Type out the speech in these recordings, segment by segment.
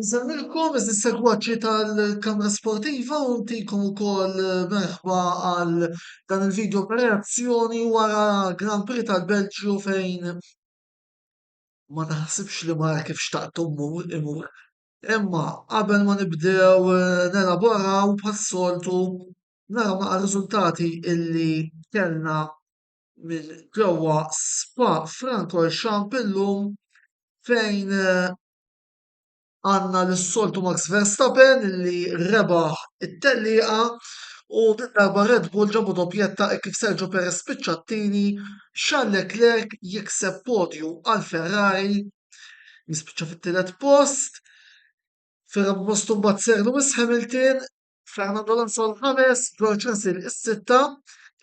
Insellmilkom iżis segwaċi tal-Kamra Sportiva u ntikom ukoll merħba għal dan il-video reazzjoni wara Grand Prix tal-Belġju fejn ma taħsibx li mara kif xtaqt mmur imur. Imma qabel ma nibdew eh, nelaboraw bħas-soltu naraw naqa' riżultati illi kellna minn ġewwa Spa Francorchamps illum fejn eh, għandna lis-soltu Max Verstappen li rebaħ it-tellieqa u din darba Red Bull ġabu doppjetta hekk kif Sergio Perez spiċċa t-tieni, Charles Leclerc jikseb podju għal Ferrari li spiċċa fit-tielet post, fir-raba' post imbagħad Sir Lewis Hamilton, Fernando Alonso l-ħames, George Russell is-sitta,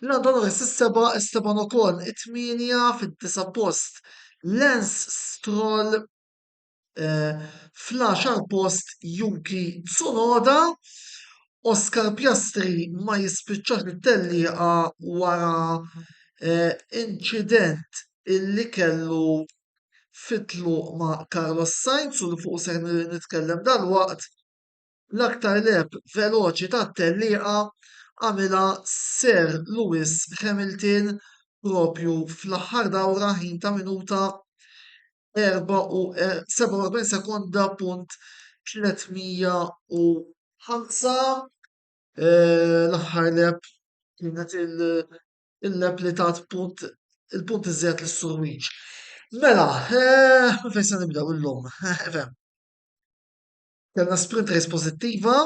Lando Norris is-seba', Esteban Ocon it-tmienja, fid-disa' post Lance Stroll eh, fl-għaxar post Yuki Tsunoda, Oscar Piastri ma jispiċċax it-tellieqa wara eh, inċident illi kellu fitlu ma' Carlos Sainz u li fuq se nitkellem dal-waqt L-aktar leheb veloċi tat-tellieqa għamilha Sir Lewis Hamilton proprju fl-aħħar dawra ħin ta' minuta 47 sekonda punt 305. L-aħħar leheb kienet il-leheb li tat punt il-punt iżjed lis Sur Weech. Mela, minn fejn se nibdew illum? Efhem. Kellna sprint race pożittiva,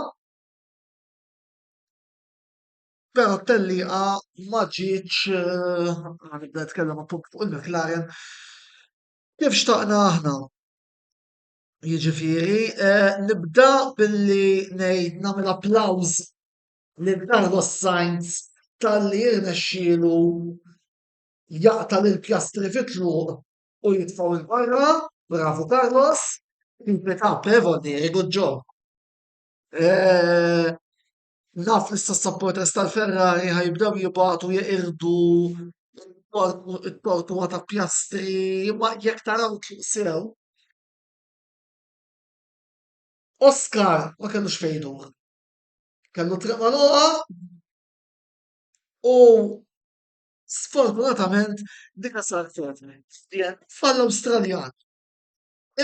però t-tellieqa ma ġietx nibda nitkellem appunt fuq il-McLaren kif xtaqna aħna. Jiġifieri nibda billi ngħid nagħmel applaws lil Carlos Sainz talli rnexxielu jaqta' lill-Piastri fit-tluq u jitfgħu 'l barra, bravu Carlos, keep it up eh very good job. Naf li issa s-supporters tal-Ferrari ħa jibdew jibgħatu jeqirdu t-tortwa ta' Piastri imma jekk taraw sew, Oscar ma kellux fejn idur, kellu t-triq magħluqa u Sfortunatament dina saret DNF għall-Awstraljan.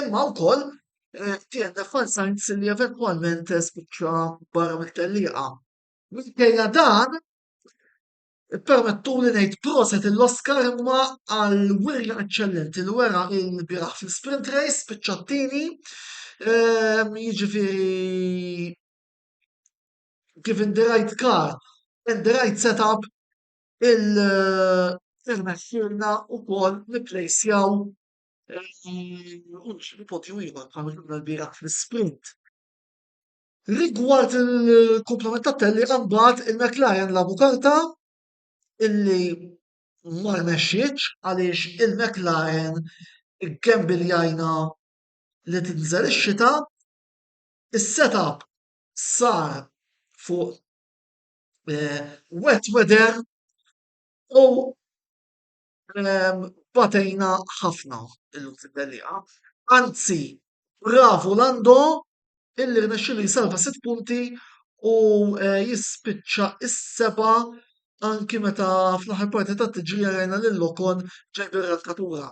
Imma wkoll eh, DNF għal Sainz li eventwalment spiċċa barra mit-tellieqa. Minkejja dan, permettu li ngħid proset l-Oscar imma għal wirja eċċellenti li wera il-biraħ fil-sprint race spiċċattini ehm, jiġifieri given the right car and the right setup irnexxielna wkoll nipplejsjaw podju ieħor bħal ma xfna lbieraħ fl-isprint. Rigward il-kumplament tat-tellieqa mbagħad il-McLaren lagħbu karta illi ma rnexxietx għaliex il-McLaren ikembiljajna li tinżel ix-xita, is-setup sar fuq eh, wet weather u eh, batejna ħafna il-Lutlidellija. Anzi, bravu Lando illi rnexxilu jisalva sitt punti u eh, jispiċċa is-seba anki meta fl-aħħar parti ta' tiġi rajna lil Lokon ġej bir-rankatura.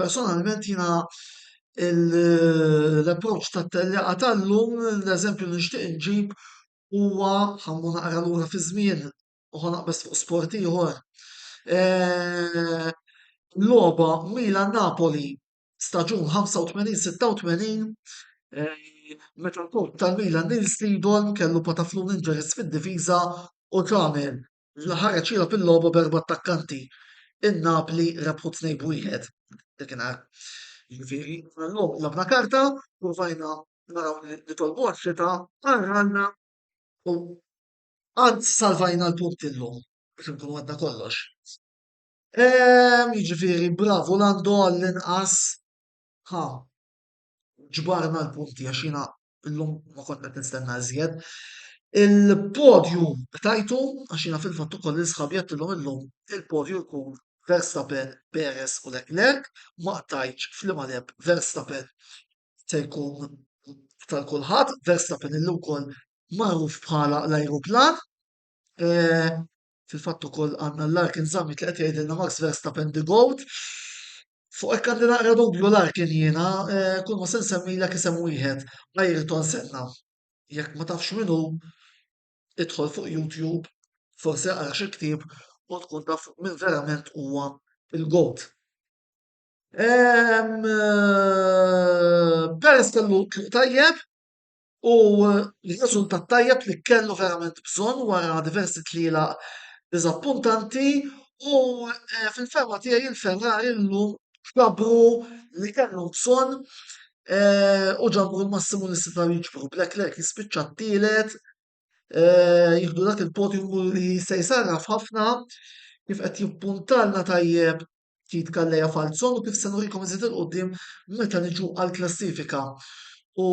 Personalment jiena l-approċċ tat-tellieqa tal-lum, l-eżempju li nixtieq inġib huwa, ħa mmur naqra lura fiż-żmien u ħa naqbeż fuq sport ieħor, logħba Milan-Napoli staġun 85-86 meta l-portier tal-Milan Nils Lidorn kellu pataflun injuries fid-difiża u Tranel Villa ħareġ jilgħab il-logħba b'erba' attakkanti, in-Napli rebħu tnejn b'wieħed dakinhar. Jiġifieri llum labna karta, ppruvajna naraw li nitolbu għax-xita, qarralna u għad salvajna l-punt illum biex inkunu għedna kollox. Ehm, jiġifieri bravu Lando għall-inqas ħa ġbarna l-punti għax jiena illum ma kont qed nistenna iżjed. Il-podju tajtu għax jiena fil-fatt ukoll lil sħabi għedtilhom illum il-podju jkun Verstappen, Perez u Leclerc, ma qtajtx f'liema lep Verstappen se jkun tal kulħadd, Verstappen illum ukoll magħruf bħala l-ajruplan. Eh, Fil-fatt ukoll għandna l-Larkin Summit li qed jgħidilna Max Verstappen the Goat. Fuq hekk għandi naqra dubju Larkin jiena, eh, kull ma se nsemmilek isem wieħed Ayrton Senna. Jekk ma tafx minnu, idħol fuq YouTube, forsi għara xi ktieb u tkun taf minn verament huwa il-goat. Eh, Perez kellu tajjeb, U r-riżultat tajjeb li kellu verament bżonn wara diversi tlielaq diżappuntanti u eh, fil-ferma tiegħi il-Ferrari llum ġabru li kellhom bżonn eh, u ġabru l-massimu li setgħu jiġbru. Leclerc jispiċċa t-tielet, eh, jieħdu dak il-podium li se jsarraf ħafna kif qed jippuntalna tajjeb ftit kalleja falzon u kif se nurikom iżid il-qudiem meta niġu għall-klassifika. U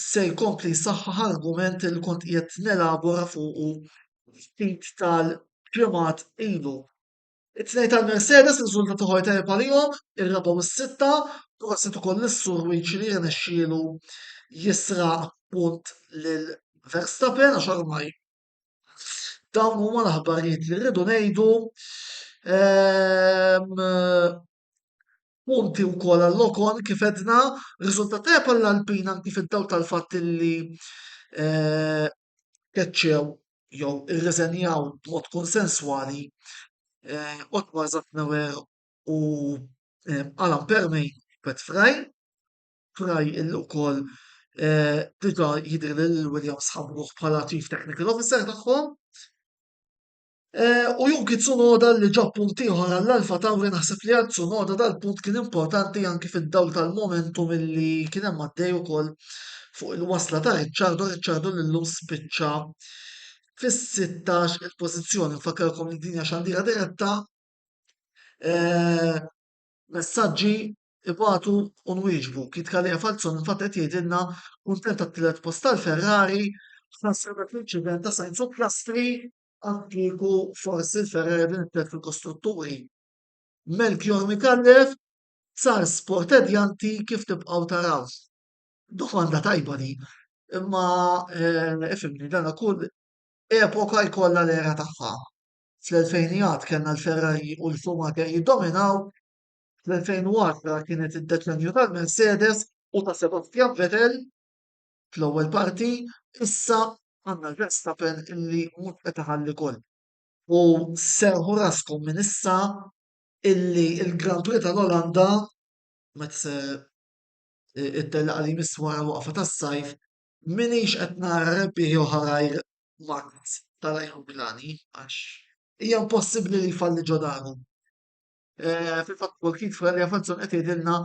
se jkompli jsaħħaħ argument li kont qiegħed nelabora fuqu ftit tal-ġimgħat ilu. It-tnejn tal-Mercedes riżultat uħor tajjeb għalihom, ir-raba' u s-sitta, prosit ukoll lis-sur Wiċi li rnexxielu jisraq punt lil Verstappen għax ormai Dawn huma l-aħbarijiet li rridu ngħidu. Ehm, punti u kol għall-lokon kif edna, rizultat tajab għall-Alpin anki fid-daw tal-fatt li eh, keċċew jew irreżenjaw b'mod konsenswali eh, Otmar Zatnewer u eh, Alan Permej Pet Fraj. Fry ukoll diġà jidher li lil Williams ħabbruh bħala Chief Technical Officer tagħhom. U Yuki Tsunoda li ġab punt ieħor għall-Alfa Tauri naħseb li għal Tsunoda dal-punt kien importanti anki fid-dawl tal-momentum li kien hemm għaddej ukoll fuq il-wasla ta' Ricciardo, Ricciardo li llum spiċċa fis-16 il-pożizzjoni. Nfakkarkom li dinja xandira diretta. Eh, messaġġi ibatu u nwieġbu. Kid Kalia Falzon infatti qed jgħidilna kuntent għat-tielet post tal-Ferrari ħasra dak l-inċident ta' Sainz u Piastri għad kieku forsi l-Ferrari din it-tielet fil-kostrutturi. Melchior Micallef sar sport edjanti kif tibqgħu taraw. Domanda tajba di, imma eh, ifimni dan kull epoka jkollha l-era tagħha. Fl-2000 kellna l-Ferrari u l-Schumacher jiddominaw, Fl-2010 kienet id-deċennju tal-Mercedes u ta' Sebastian Vettel fl-ewwel parti, issa għandna Verstappen illi mhux qed iħalli goal. U serrħu raskom minn issa illi l-Grand Prix tal-Olanda meta se ittellaq li jmiss wara l-waqfa tas-sajf minix qed nara rebbieħ jew ħarair Max tal-ajruplani għax hija impossibbli li jfalli ġo daru. Eh, fil-fatt kol kif Ralja Fazzon qed jgħidilna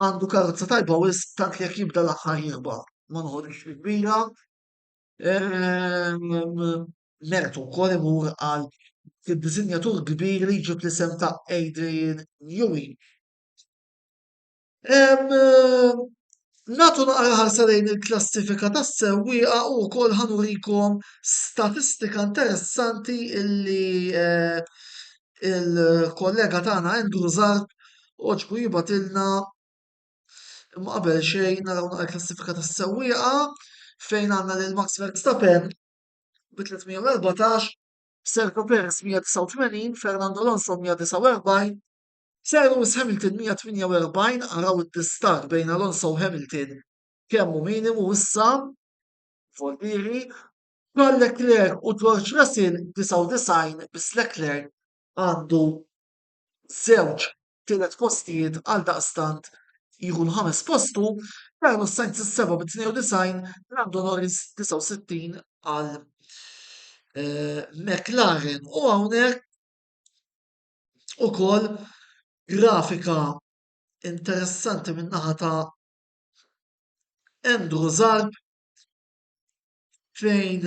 għandu karozza tajba u tant jekk jibda l-aħħar jirba ma nħodix kbira. Mertu wkoll imur għal id-disinjatur kbir li ġib l-isem ta' Adrian Newey. Nagħtu naqra ħarsa lejn il-klassifika tas-sewwieqa u wkoll ħa nurikom statistika interessanti illi eh, il-kollega tagħna Andrew Zarb oġbu jibatilna imma qabel xejn naraw naqra klassifika tas-sewwieqa fejn għandna lil Max Verstappen bi 314, Sergio Perez 189, Fernando Alonso 149, Cyrus Hamilton 148 Araw id-distakk bejn Alonso u Hamilton kemm hu minimu issa, voltieri, Charles Leclerc u George Russell 99 biss Leclerc għandu żewġ tielet postijiet għaldaqstant jieħu l-ħames post hu, Carlos Sainz is-seba' bi 92, Lando Norris 69 għal eh, McLaren u hawnhekk ukoll grafika interessanti min-naħa ta' Andrew Zarb fejn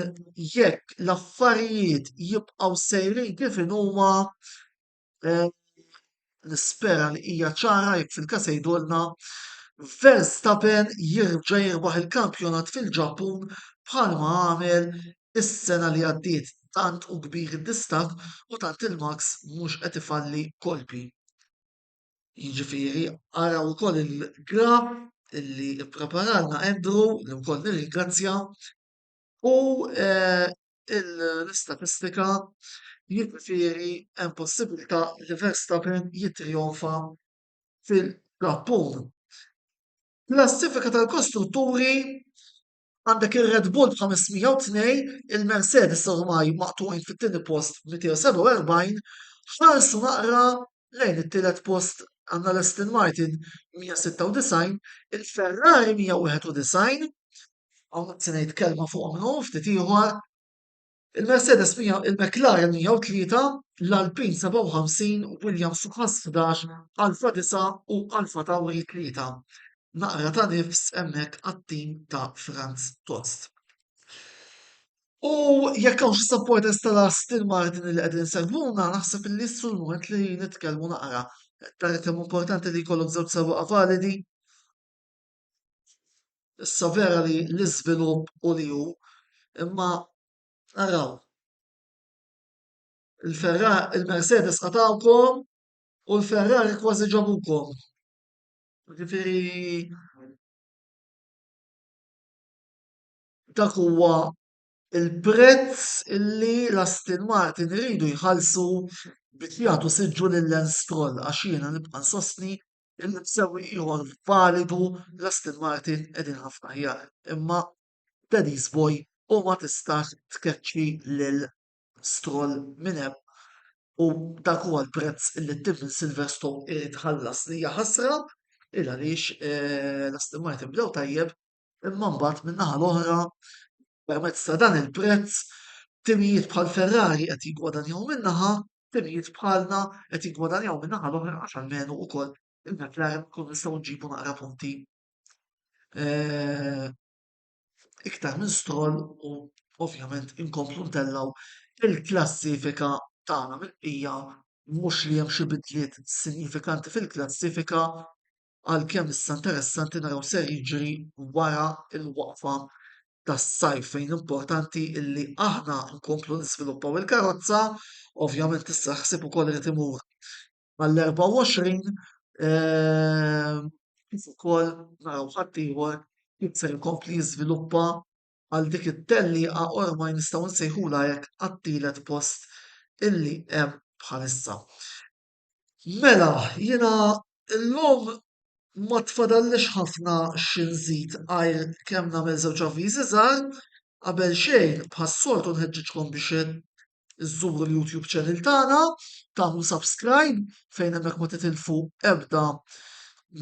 jekk l-affarijiet jibqgħu sejrin kif inhuma nispera li hija ċara jekk fil-każ igħidulna, Verstappen jerġa' jirbaħ il-kampjonat fil-Ġappun bħalma għamel Is-sena li għaddiet tant hu kbir id-distakk u tant il-Max mhux qed ifalli kolpi. Jiġifieri araw ukoll il-graf li ppreparalna Andrew li wkoll nirringrazzja u eh, l-istatistika jiġifieri hemm possibilità li Verstappen jittrijonfa fil-Ġappun. Klassifika tal-kostrutturi Għandek ir-Red Bull b'502, il-Mercedes ormai maqtugħin fit-tieni post b'247, ħarsu naqra lejn it-tielet post għandna l-Aston Martin 196, il-Ferrari 191, hawnhekk se ngħid kelma fuqhom illum ftit ieħor, Il-Mercedes 100, il-McLaren 103, l-Alpine 57, Williams u Haas 11, Alfa 9 u Alfa Tauri 3. Naqra ta' nifs hemmhekk għat-tim ta' Franz Tost. U jekk hawn xi supporters tal-Aston Martin li qegħdin segwuna, naħseb li jissu l-moment li nitkellmu naqra. Tara kemm importanti li jkollok żewġ sewwieqa validi. Issa vera li l-iżvilupp u li hu, imma araw. Il-Ferrari, il-Mercedes qatawkom u l-Ferrari kważi ġabukom. Ġifiri, dak huwa il-prezz illi l-Aston Martin iridu jħallsu biex jagħtu siġġu lil Lance Stroll għax jiena nibqa' nsostni Il-msewwi ieħor validu l-Aston Martin qegħdin ħafna aħjar, imma Denise Boy u ma tistax tkeċċi lil Stroll minn hemm u dak huwa l-prezz li t-tim minn Silverstone irid iħallas li hija ħasra il għaliex eh, l-Aston Martin bdew tajjeb imma mbagħad min-naħa l-oħra permezz ta' dan il-prezz timijiet bħal Ferrari qed jiggwadanjaw minn naħa, timijiet bħalna qed jiggwadanjaw minn naħa l-oħra għax almenu ukoll il-McLaren kun nistgħu nġibu naqra punti eh, iktar minn stroll u ovvjament inkomplu ntellaw il-klassifika tagħna mill-qija mhux li hemm xi bidliet sinifikanti fil-klassifika għalkemm issa interessanti naraw x'ser jiġri wara l-waqfa tas-sajf fejn importanti illi aħna nkomplu niżviluppaw il-karozza, ovvjament issa ħsieb ukoll irid imur għall-24 eh, kif ukoll naraw ħaddieħor kif ser ikompli jiżviluppa għal dik it-tellieqa ormaj nistgħu nsejħula hekk għat-tielet post illi hemm bħalissa. Mela, jiena llum ma tfadallix ħafna xi nżid għajr kemm nagħmel żewġ avviżi żgħar. Qabel xejn, bħas-soltu nħeġġiġkom biex iżżuru l-YouTube channel tagħna, tagħmlu subscribe fejn hemmhekk ma titilfu ebda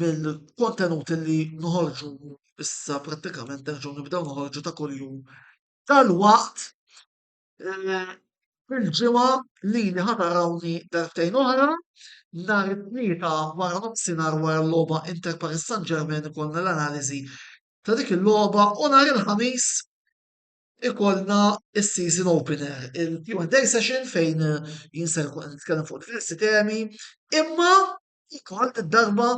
mill-kontenut li noħorġu issa prattikament nerġgħu nibdew noħorġu ta' kuljum dalwaqt. Il-ġimgħa lili ħa tarawni darbtejn oħra, nhar it-Tlieta wara nofsinhar wara l-logħba Inter Paris Saint-Germain ikollna l-analiżi ta' dik il-logħba u nhar il-Ħamis ikollna s-season opener, il-Q&A session fejn jien ser inkun qed nitkellem fuq diversi temi, imma Ikon id-darba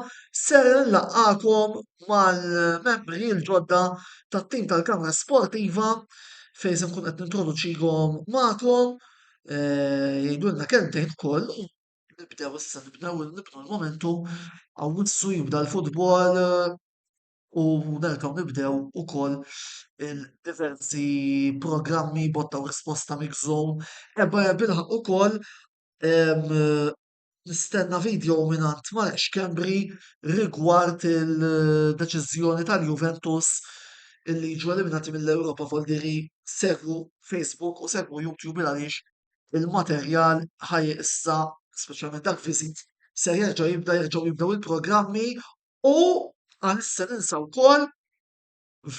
ser nlaqqakom mal-membri l-ġodda tat-tim tal-Kamra Sportiva fejn se nkun qed nintroduċihom magħkom eh, jgħidulna kelmtejn ukoll u nibdew issa nibdew nibnu l-momentu għawissu jibda l-futbol eh, u nerġgħu nibdew ukoll il-diversi programmi botta u risposta mix-zone ebba bil-ħaq ukoll Nistenna video mingħand Mark Schembri rigward il-deċiżjoni tal-Juventus illi jiġu eliminati mill-Ewropa Voldiri segwu Facebook u segwu YouTube għaliex il-materjal ħaj issa speċjalment dak visit se jerġa' jibda jerġgħu jibdew il-programmi u għalissa ninsa wkoll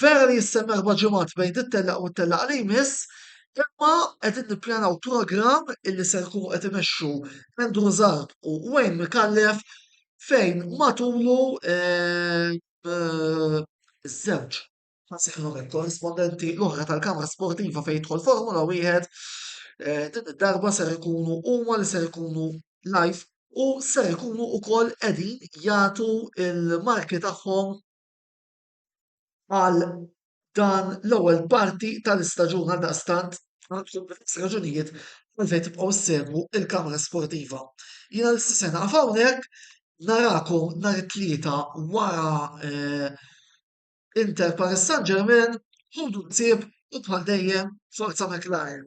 Vera li jistenna erba' ġimgħat bejn din tellaq u t-tellaq li jmiss, imma qegħdin nippjanaw programm illi ser ikunu qed imexxu Andrew Zarb u Wayne Micallef fejn matulu ż-żewġ ħażinuret korrispondenti l-oħra tal-kamra sportiva fejn jidħol Formula Wieħed din id-darba ser ikunu huma li ser ikunu live u ser ikunu wkoll qegħdin jagħtu l-marki tagħhom għal dan l-ewwel parti tal-istaġun għaldaqstant għandkom raġunijiet għalfejn tibqgħu ssegwu l-Kamra Sportiva. Jiena l-issa se naqaf hawnhekk narakom nhar it-tlieta wara eh, Inter Paris Saint Germain, ħudu nsib u bħal dejjem forza McLaren.